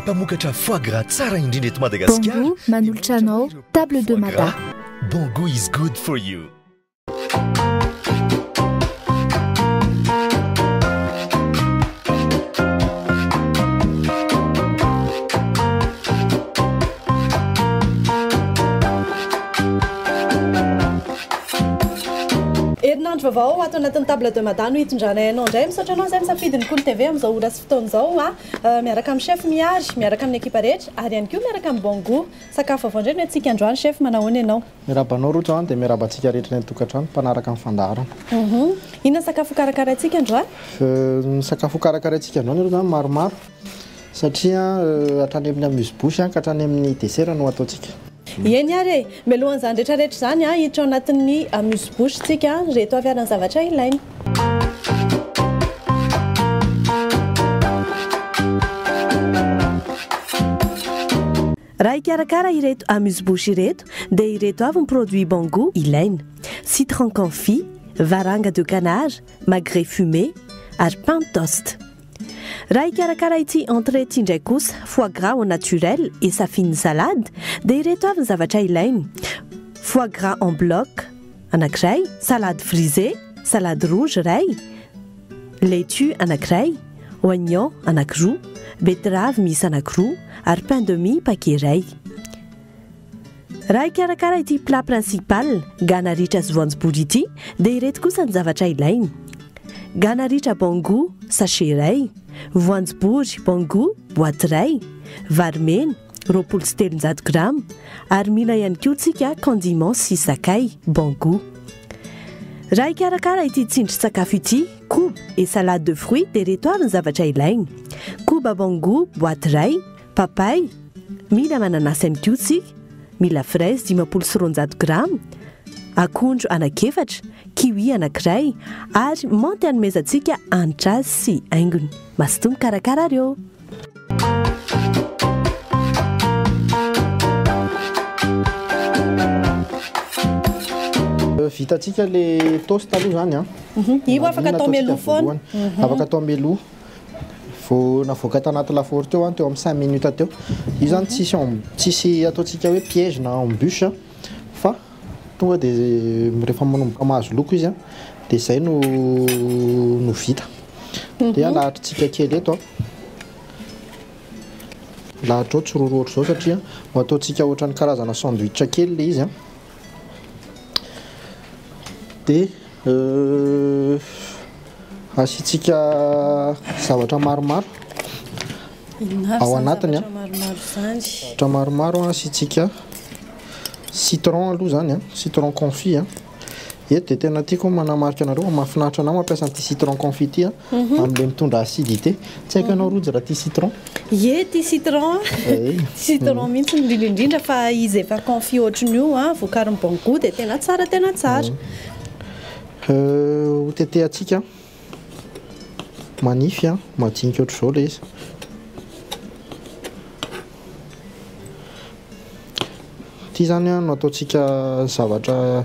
mpamokatra foie gras tsara indrindra eto Madagasikara. Bongo manolotra anao table de mada. Bongo is good for you. Herinandro vaovao ho ato anatin'ny Table de Mada no hitondranay anao indray. Misaotra anao izay misafidy ny Kolo TV amin'izao ora sy fotoana izao, miaraka amin'ny Chef Mihary, miaraka amin'ny ekipa rehetra ary ihany koa miaraka amin'ny Bon Gout. Sakafo vaovao indray no entintsika androany Chef, manao ahoana ianao? Miarahaba anao Rojo an, dia miarahaba antsika rehetra eny an-tokantrano mpanaraka ny fandaharana. Inona ny sakafo hokarakaraintsika androany? Ny sakafo hokarakaraintsika androany aloha izany maromaro. Satria hatrany amin'ny amuse bouche ka hatrany amin'ny desera no ataontsika. Eny ary e! Mialohan'izany rehetrarehetra izany, hiditra ao anatin'ny amuse bouche tsika ireto avy ary ny zavatra ilaina. Raha hikarakara ireto amuse bouche ireto dia ireto avy ny produits Bangou ilaina, citron confit, varanga de canard, magret fumé ary pain toste. Raha hikarakara ity entrée ity indray kosa, foie gras au naturel et sa fine salade, dia ireto avy ny zavatra ilainy, foie gras en bloc anankiray, salade frisée, salade rouge iray, laitue anankiray, oignon anankiroa, beteravy miisa anankiroa ary pain de mie paquet iray. Raha hikarakara ity plat principal, gana ritra sy voanjobory ity, dia ireto kosa ny zavatra ilainy. Gana ritra bon gout, sachet iray. Voanjobory bon gout, boaty iray. Vary mena, roapolo sy telonjato grama. Ary mila ihany koa tsika condiments sy sakay, bon gout. Raha hikarakara ity tsindrin-tsakafo ity, koba et salade de fruits, dia ireto avy ny zavatra ilainy. Koba bon gout, boaty iray. Papay, Mila mananasy amidio tsika, mila fraise dimampolo sy roanjato grama, akondro anak'efatra, kiwi anakiray ary menthe hanomezantsika hanitra azy sy haingony. Mazotoa mikarakara ary ô! Vitantsika le toast aloha zany an! Io afaka atao mialoha foana. Afaka atao mialoha. vao navoaka tanaty lafaoro teo an, teo amin'ny cinq minutes teo, io zany tsisy en, tsisy ataontsika hoe piège na embûche an, fa tonga dia rehefa manomboka mahazo loko izy an, dia zay no no vita, dia alahatritsika kely eto an, alahatra ao, tsy roro ohatr'izao satria ho ataontsika ohatran'ny karazana sandwich kely ilay izy an. Dia asiantsika zavatra maromaro ao anatiny. Zavatra maromaro asiantsika citron aloha izany, citron confit. Eto dia tena tiako ny manamarika anareo fa mahafinaritra anà mampiasa an'ity citron confit ity an! Amin'ilay mitondra acidité. Tsy haiko ianao Rojo raha tia citron? Ie, tia citron aho. Citron mihitsy no indrindra indrindra fa izy efa confit ohatran'ny io an, vokarin'ny Bongout dia tena tsara tena tsara. Ho tetehantsika manify an, majinika ohatr'izao ilay izy. Ity izany no ataontsika zavatra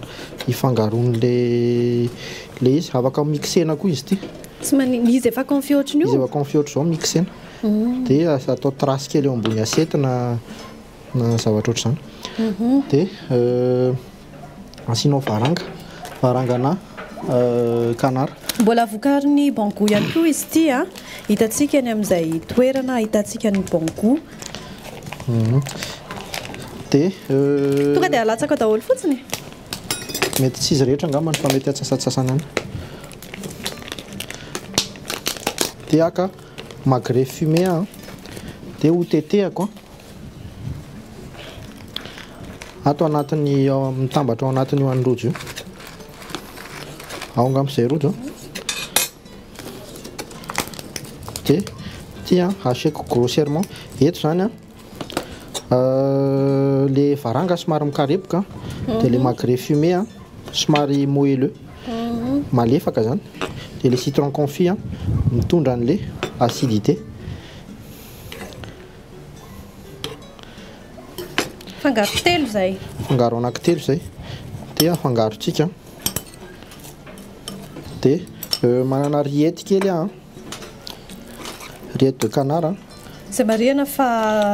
ifangaroan'ilay izy. Afaka mixena koa izy ity. Tsy manin- izy efa confit ohatran'io? Izy efa confit ohatr'izao mixena. Dia as- atao tracé kely eo ambony assiette na na zavatra ohatr'izany. Dia Asianao varanga, varangana canard. Mbola vokarin'ny Bangou ihany koa izy ity a! Hitantsika any amin'izay toerana ahitantsika ny Bangou. Dia. Tonga dia alatsaka daholo fotsiny e! Mety tsy izy rehetra angambany fa mety atsasatsasany any. Dia haka magret fumé aho dia hotetehako. Ato anatin'ny ao mitambatra ao anatin'ny io any rojo io. Ao angamba izay rojo. Dia ity an, hacheko grossièrement. Eto izany an, euh, le varanga somary mikarepoka, dia le mhm. magret fumé an, somary moelleux, mhm. malefaka izany. Dia le citron confit an, mitondra an'le acidité. Fangaro telo izay. Fangaro anaky telo izay. Dia afangarontsika. Dia euh, manana riety kely aho. Riety de canard. Izay marihana fa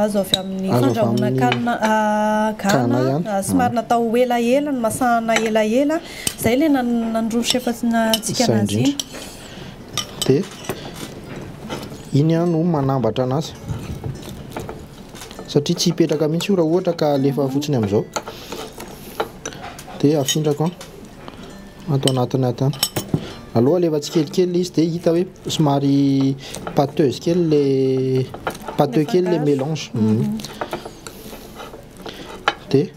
azo avy amin'ny fandrahoana kanina ah, gana, ah, somary natao elaela, ny masahana elaela. Izay ilay nanondroa ny chef antsika anazy. dia iny aho no manambatra anazy satria tsy hipetraka mihitsy io raha ohatra ka alefa fotsiny amin'izao dia afindrako ato anatiny ato any aloha alefa tsikelikely izy dia hita hoe somary pâteuse kely le pâteux kely le mélange mhm. dia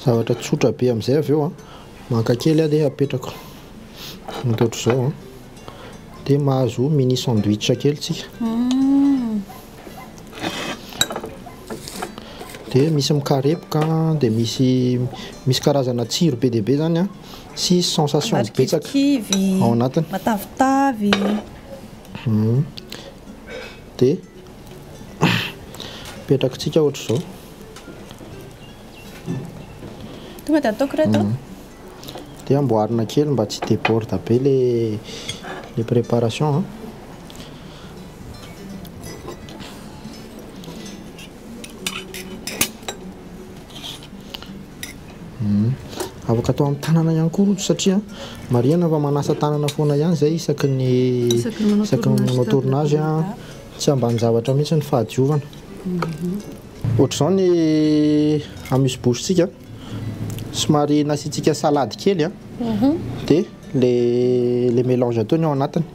zavatra tsotra be amin'izay avy eo an maka kely aho dia apetrako Misaotra izao an! Dia mahazo mini sandwich kely tsika. Dia misy mikarepoka an, dia misy misy karazana tsiro be dia be izany an, sy sensations betsaka ao anatiny. Matavitavy. Dia apetrakitsika ohatra izao. Tonga dia ataoko ireto. de amboarina kely mba tsy deborde be le le préparation an. Afaka atao amin'ny tanana ihany koa rojo satria marihana fa manasa tanana foana ihany zay isaky ny isaky ny manao tournage an, tsy ambanin-javatra mihitsy ny fahadiovana. Ohatr'izao ny amy misy bouche-tsika. Somary nasiantsika salade kely a. Dia ilay ilay mélange atao ny ao anatiny.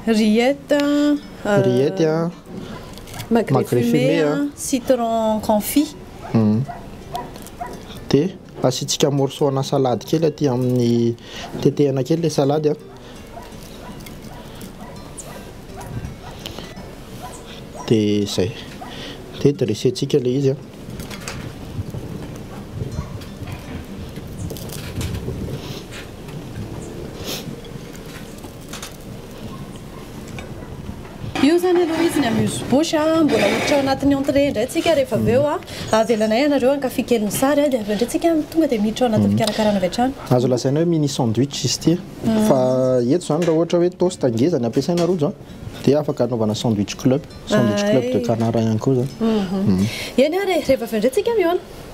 Rillettes a. Rillettes a. Magret fumé a, citron confit. Dia asiantsika morceau ana salade kely aty amin'ny, tetehana kely ilay salade a. de zay de dressentsika le izy a Io izany aloha izy ny amuse bouche a, mbola hiditra ao anatin'ny entrée indray tsika rehefa avy eo a, avelanay ianareo hankafy kely ny sary a, dia avy eo indray tsika tonga dia miditra ao anatin'ny fikarakarana avy hatrany. Azo lazaina hoe mini sandwich izy ity a, fa eto izany raha ohatra hoe toast ngeza ny ampiasaina rojo a, dia afaka anaovana sandwich club, sandwich club de canard ihany koa izany. Eny ary e, rehefa avy eo indray tsika mihaona.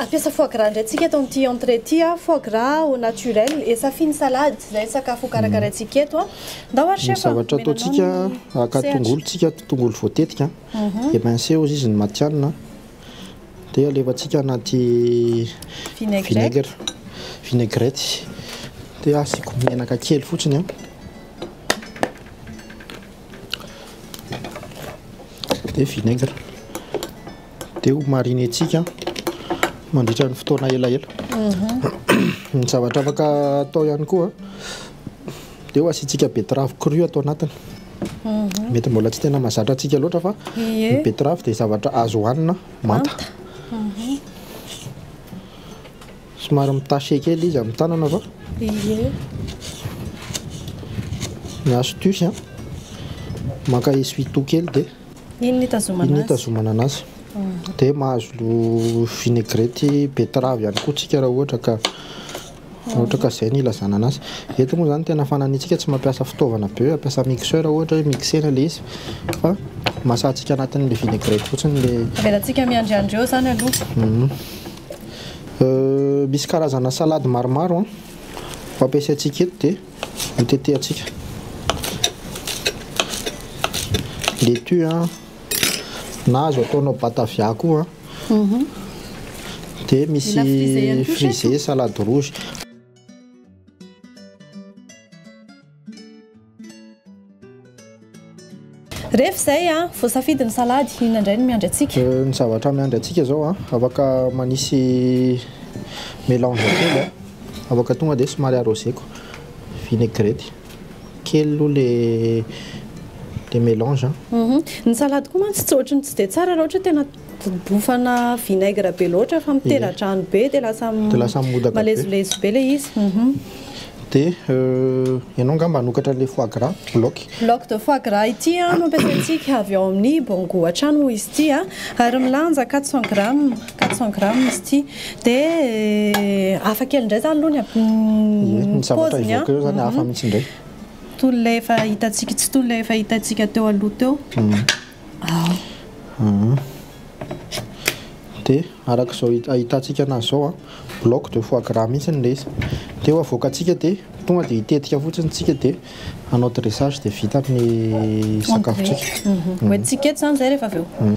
Ampiasa foie gras indray tsika eto amin'ity entrée ity, foie gras au naturel et safiny salade izay sakafo ho karakaraintsika eto. Ndao ary chef. Ny zavatra ataontsika, haka tongolo tsika, tongolo voatetika, émincé hozy izy ny matihanina, Dia alefantsika anaty vinaigre, vinaigrette. Dia asiako menaka kely fotsiny an. Dia vinaigre. Dia ho mariner-tsika mandritra ny fotoana elaela. Ny zavatra afaka atao ihany koa Dia asiantsika betterave crue ato anatiny. Mety mbola tsy tena mahazatra antsika loatra fa ny betterave dia zavatra azo hohanina manta. Somary mi-tacher kely izy amin'ny tanana fa ny astuce an, maka essuie-tout kely dia iny hitazomana anazy. Dia mahazo vinaigrette betterave ihany koa tsika raha ohatra ka. Ohatra ka izay no ilazana anazy. Eto moa izany tena fananitsika tsy mampiasa fitaovana be hoe ampiasa mixeur ohatra hoe mixena ilay izy fa masatsika anatin'ilay vinaigrette fotsiny ilay. Avelantsika miandriandry eo izany aloha. Misy karazana salady maromaro an, ho ampiasaintsika eto dia hotetehantsika. Letue an. na azo ataonao batavia koa dia misy frisé salade rouge. Rehefa izay voasafidy ny salady, inona indray no miandry antsika? Ny zavatra miandry antsika izao afaka manisy mélange kely afaka tonga dia somary arroseko vinaigrette. Kely aloha le melange an. Uhum. Ny salade koa mantsy tsy ohatry ny tsy dia tsara raha ohatra hoe tena bofana vinaigre be loatra fa mitera-drano be dia lasa Dia lasa modaka be. malezolezo be ilay izy. Uhum. Dia euh, ianao angamba hanokatra an'ilay foie gras bloc. Bloc de foie gras ity an no ampiasaintsika avy ao amin'ny Bongo hatrany moa izy ity an, ary milanja quatre cents grammes. quatre cent grammes izy ity dia hafa kely indray izany aloha ny paoziny an, toy ilay efa hitantsika, tsy toy ilay efa hitantsika teo aloha teo, dia araka izao ahitantsika anazy izao an, bloc de foie gras mihintsy ilay izy, dia ho avoakantsika dia tonga dia hitetika fotsiny isika dia hanao dressage dia vita ny sakafontsika. Hoentintsika eto izany izay rehefa avy eo.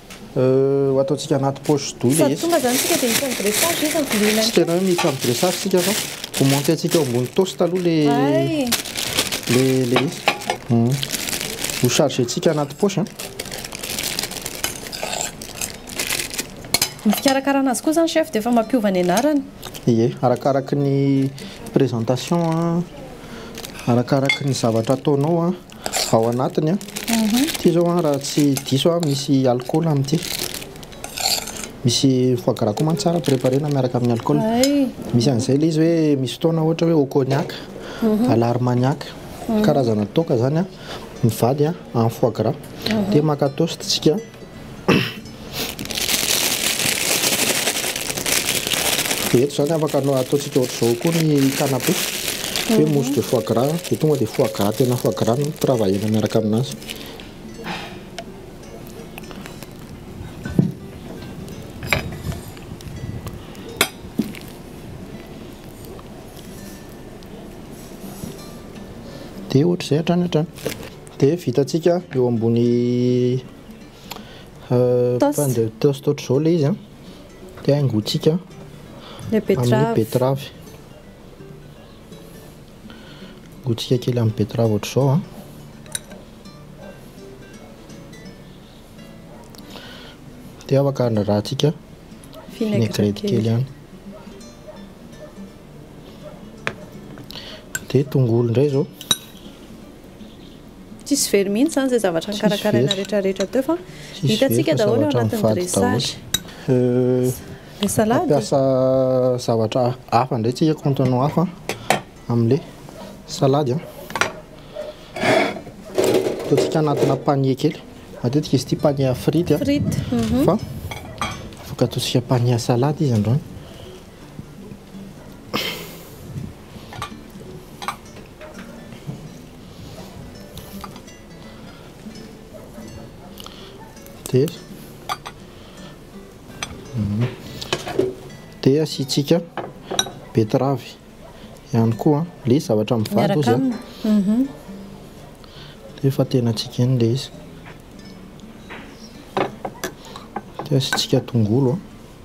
Euh, ataontsika anaty poche douille Sady tonga zany tsika de hita dressage izy amiko lena Tsy tena hoe misy amin'ny dressage tsika fa ho monter antsika ao ambony toast aloha le le le izy. Hmm. Ho charger tsika anaty poche an. Ny fikarakarana azy koa zany chef de efa mampiova ny anarany. Ie, arakaraky ny présentation an, arakaraky ny zavatra ataonao an. Ao anatiny an. Ity izao an raha tsy diso aho misy alcool amin'ity. Misy foie gras koa mantsy tsara préparena miaraka amin'ny alcool. Misy an'izay ilay izy hoe misy fotoana ohatra hoe au cognac, mhm. à l'armagnac. Mhm. Karazana toaka izany an. Mivady an, en foie gras. Mhm. Dia maka toast tsika. Dia eto izany afaka ataontsika ohatr'izao koa ny canapé. Hoe mousse de foie gras, dia tonga dia foie gras tena foie gras no travailler-na miaraka aminazy. Dia ohatr'izay hatrany hatrany. Dia vitantsika eo ambony. Pain de toast ohatr'izao ilay izy an, dia haingontsika amin'ny betterave, haingontsika kely amin'ny betterave ohatr'izao an, dia afaka handrarahantsika vinaigrette kely ihany, dia tongolo indray izao. Tsisy very mihintsy zany zay zavatra nikarakaraina rehetra rehetra teo fa hitantsika daholo ao anatin'ny dressage. Le salade. Mampiasa zavatra hafa ndray tsika contenant hafa amle salade a. Ataontsika anatina panier kely. Matetika izy ity panier frite a. Frite. Fa afaka ataontsika panier salade izy androany. dia dia asiantsika betterave ihany koa an, le zavatra mivady ozy an, dia efa tenantsika eny le izy, dia asiantsika tongolo an.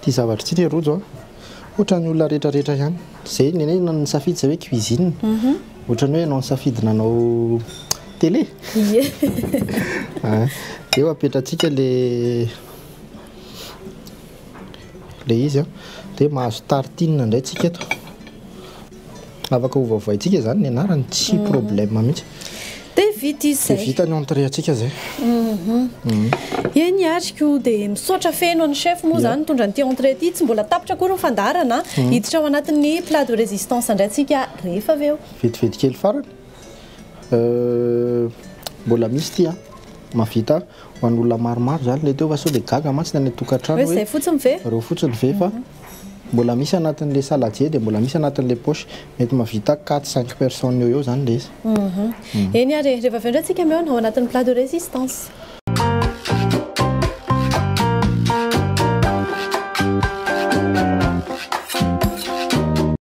Ity zavatra ity ry Rojo a, ohatran'ny olona rehetra rehetra ihany. Izay ny anay no nisafidy izay hoe cuisine. Mhm. Ohatran'ny hoe ianao nisafidy nanao télé. Ie. Ah, eo apetratsika le le izy a. Dia mahazo tartine indray tsika eto. Afaka hovavoaintsika izany ny anarany, tsy problème mihitsy. Dia vita izay. Dia vita ny entrée antsika izay. Eny ary koa dia misaotra feno an'i chef moa izany nitondra an'ity entrée ity. Tsy mbola tapitra akory ny fandaharana, hiditra ao anatin'ny plat de résistance indray tsika rehefa avy eo. Vetivety kely farany. Mbola misy ity an, mahavita ho an'olona maromaro izany ilay teo fa sao dia gaga mantsy ny any an-tokantrano hoe ireo fotsiny ve fa. Mbola misy anatin'le saladier dia mbola misy anatin'le poche. Mety mahavita quatre cinq personnes eo ho eo zany le izy. Eny ary e, rehefa avy eo ndray tsika mihaona ao anatin'ny plat de résistance.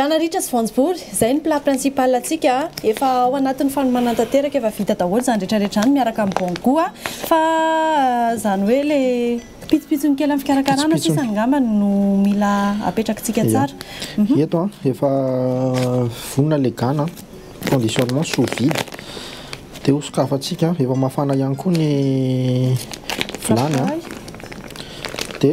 Gana ritra sy voanjobory, zay ny plat principal antsika a! Efa ao anatin'ny fanomana tanteraka, efa vita daholo zany rehetra rehetra zany miaraka amin'ny bon gout a! Fa zany hoe le pitsopitsony kely amin'ny fikarakarana sisa angamba no mila apetrakitsika tsara. Ia, eto an, efa vonona le gana an, conditionnement sous vide, de ho sokafantsika, efa mafana ihany koa ny vilany an, de.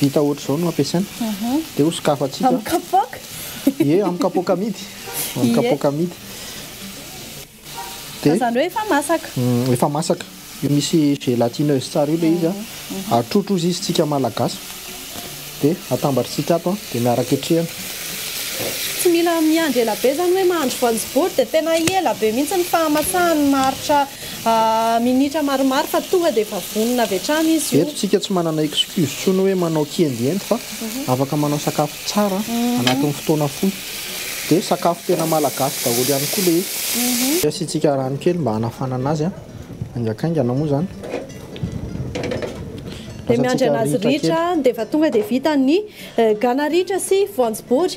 Vita ohatr'izao no ampiasaina. Dia hosokafantsika. Amin'ny kapoaka? Ie, amin'ny kapoaka amidy. Amin'ny kapoaka amidy. Dia. Fa izany hoe efa masaka. Efa masaka. Io misy gélatineuse tsara io ilay izy. Atrotro hozy izy isika Malagasy. Dia atambatr'isika ato dia miaraka hetrehina. Tsy mila miandry ela be izany hoe mahandro voanjobory dia tena ela be mihitsy ny fahamasahany maharitra. Minitra maromaro fa tonga dia efa vonona avy hatrany izy io. Eto tsika tsy manana excuse tsony hoe manao kiendiendy fa afaka manao sakafo tsara anatin'ny fotoana fohy. Dia sakafo tena malagasy daholo ihany koa ilay izy. Asiantsika rano kely mba hanafanana azy haingankaingana moa izany. Dia miandry anazy ritra dia efa tonga dia vita ny gana ritra sy voanjobory.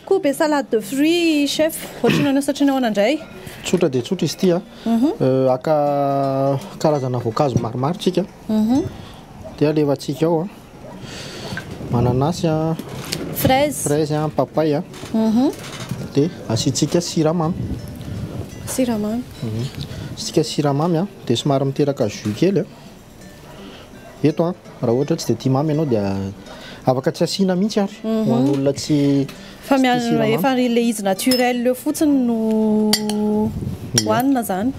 Kobe salade de fruits chef, ohatry ny ahoana satria nahoana indray? Tsotra dia tsotra izy ity a, haka karazana voankazo maromaro tsika dia alefantsika ao mananasy a, fraise, fraise a, papay a, dia asiantsika siramamy, siramamy, asiantsika siramamy dia somary miteraka jus kely a. Eto an, raha ohatra hoe tsy dia tia mamy ianao dia afaka tsy asiana mihitsy ary ho an'olona tsy Fa tsy tia mian- siramamy. efa ilay izy naturel eo fotsiny no hohanina izany.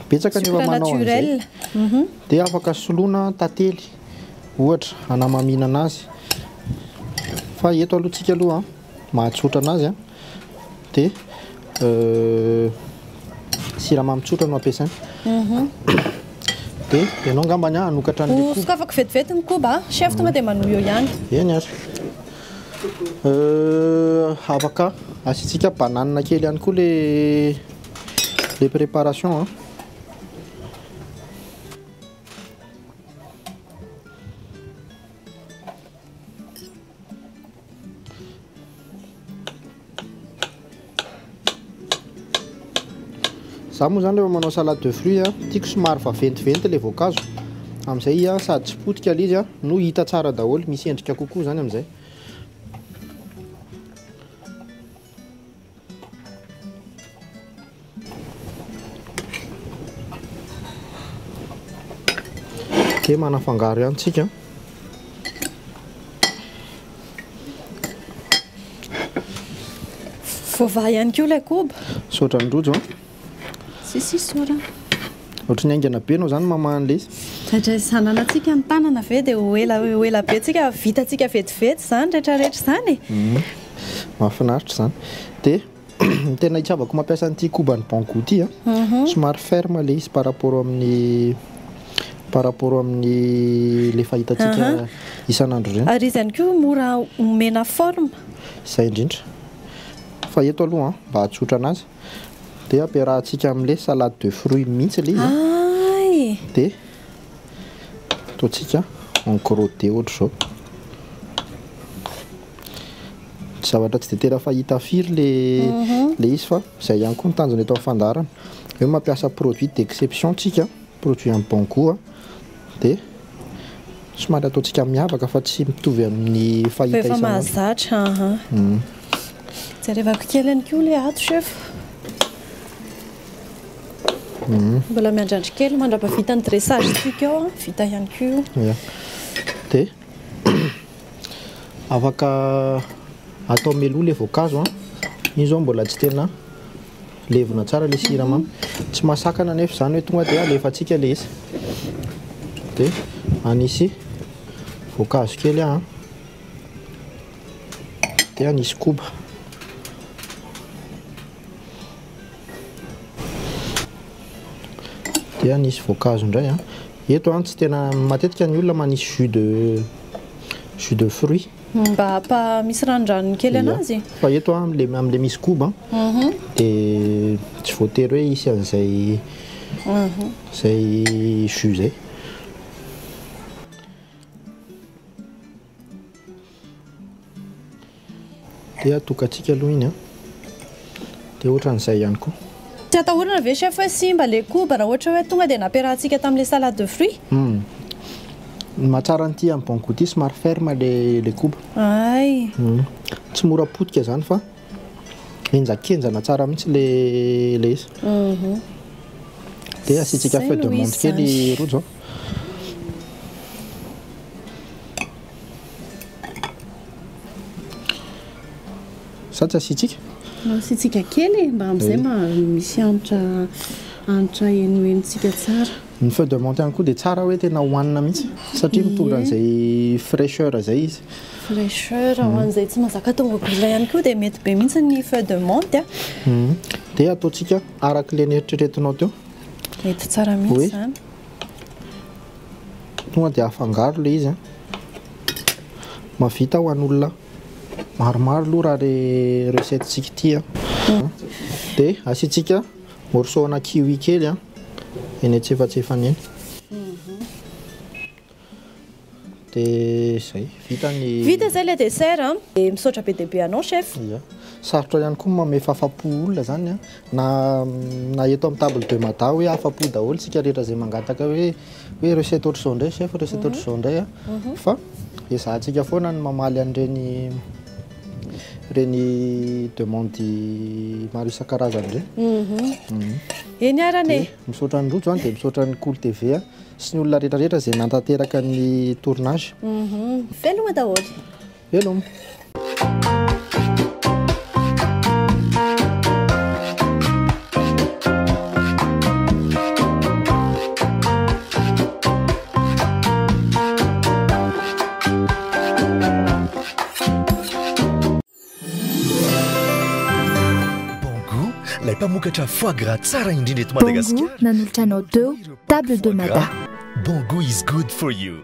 Betsaka ny Sucre olona manao an'izay. naturel. Mhm. Dia afaka soloina tantely ohatra hanamaminana azy. Fa eto aloha tsika aloha an. mahatsotra anazy a de siramamy tsotra no ampiasaina de ianao angambany a hanokatra an'le koba hosokafako vetivety ny koba a chef tonga de manohy eo ihany eny ary afaka asiantsika banane kely ihany koa le le préparation a Za moa zany rehefa manao salade de fruits a, tiako somary vaventiventy le voankazo. Amin'izay a sady tsy potika le izy a, no hita tsara daholo, misy endrika kokoa zany amin'izay. Dia manafangaro ihany tsika. Voavaha ihany koa ilay koba. Misaotra an'i Rojo. Sisisy sora. Ohatry ny haingana be enao zany maman anle izy. Fandraisan'anantsika ny tanana ve dia ho ela ho ela be tsika vitantsika vetivety zany rehetra rehetra izany e. Hum, mahafinaritra izany. Dia ny tena itiavako mampiasa an'ity koban'ny Banggood ity an, somary ferme le izy par rapport amin'ny par rapport amin'ny le efa hitantsika isan'andro ireny. Ary izy ihany koa mora omena forme. Izay indrindra. Fa eto aloha an, mba ahatsotra an'azy. Dia ampiarahantsika amin'ilay salade de fruits mihitsy ilay izy. Ay! Dia ataontsika en crotté ohatra izao. Zavatra tsy dia tena fahita firy ilay ilay izy fa izay ihany koa ny tanjona eto amin'ny fandaharana. Hoe mampiasa produit d'exception isika, produit en bon goût. dia somary ataontsika miavaka fa tsy mitovy amin'ny fahita isan'andro. Fa efa mahazatra, aha. Jerevako kely ihany koa ilay ato chef. Mbola miandrandry kely mandrapa vita ny dressage tsika eo, vita ihany koa io. Ia. Dia afaka atao meloa ilay voankazo an. Io izao mbola tsy tena Levona tsara le siramamy. Tsy mahasakana anefa izany hoe tonga dia alefantsika le izy. Dia anisy voankazo kely aho. Dia anisy koba. Dia anisy voankazo indray aho. Eto aho tsy tena matetika ny olona manisy jus de jus de fruits. Mba apa misy ranondranony kely anazy. Fa eto an le am le misy koba de tsy voatery hoe hisy an'izay zay jus zay. De atokantsika aloha iny an. dia ohatran'izay ihany koa. Tsy atahorana ve chef hoe simba le koba raha ohatra hoe tonga dia nampiarahantsika tamin'ilay salade de fruits? Humm. Ny mahatsara an'ity amin'ny bon goût ity somary ferme le le koba. Ay. Humm. Tsy mora potika izany fa henjakenjana tsara mihitsy le le izy. Humm. Dia asiantsika feuille de menthe kely rojo an. Sa tsy asiantsika? Asiantsika kely e, mba amin'izay mba misy hanitra hanitra henohenontsika tsara. Ny feuille de menthe ihany koa dia tsara hoe tena hohanina mihitsy satria mitondra an'izay fraicheur izay izy. Fraicheur, ho an'izay tsy mazaka atao mobile ihany koa dia mety be mihitsy ny feuille de menthe. Dia ataontsika araka ilay neritreretinao teo. Mety tsara mihitsy izany. Tonga dia afangaro ilay izy. Mahavita ho an'olona. maromaro aloha raha le recette tsika ity a de asiantsika morceau ana kiwi kely a eny antsefatsefany eny de zay vita ny vita zay le dessert a de misaotra be dia be anao chef ya sarotra ihany koa mamefafapo olona zany a Na na eto amin'ny table de mada hoe afa-po daholo isika rehetra izay mangataka hoe hoe recette ohatr'izao indray chef, recette ohatr'izao indray an! fa ezahantsika foana ny mamaly an'ireny ireny demande maro isan-karazany ireny. Eny arany e! Dia misaotra an'i Rojo an, dia misaotra an'i Kolo TV an, sy ny olona rehetrarehetra izay nanatanteraka ny tournage. Veloma daholo. Veloma. mpamokatra foie gras tsara indrindra eto Madagasikara. Bongo nanolotra anao teo table de mada. Bongo is good for you.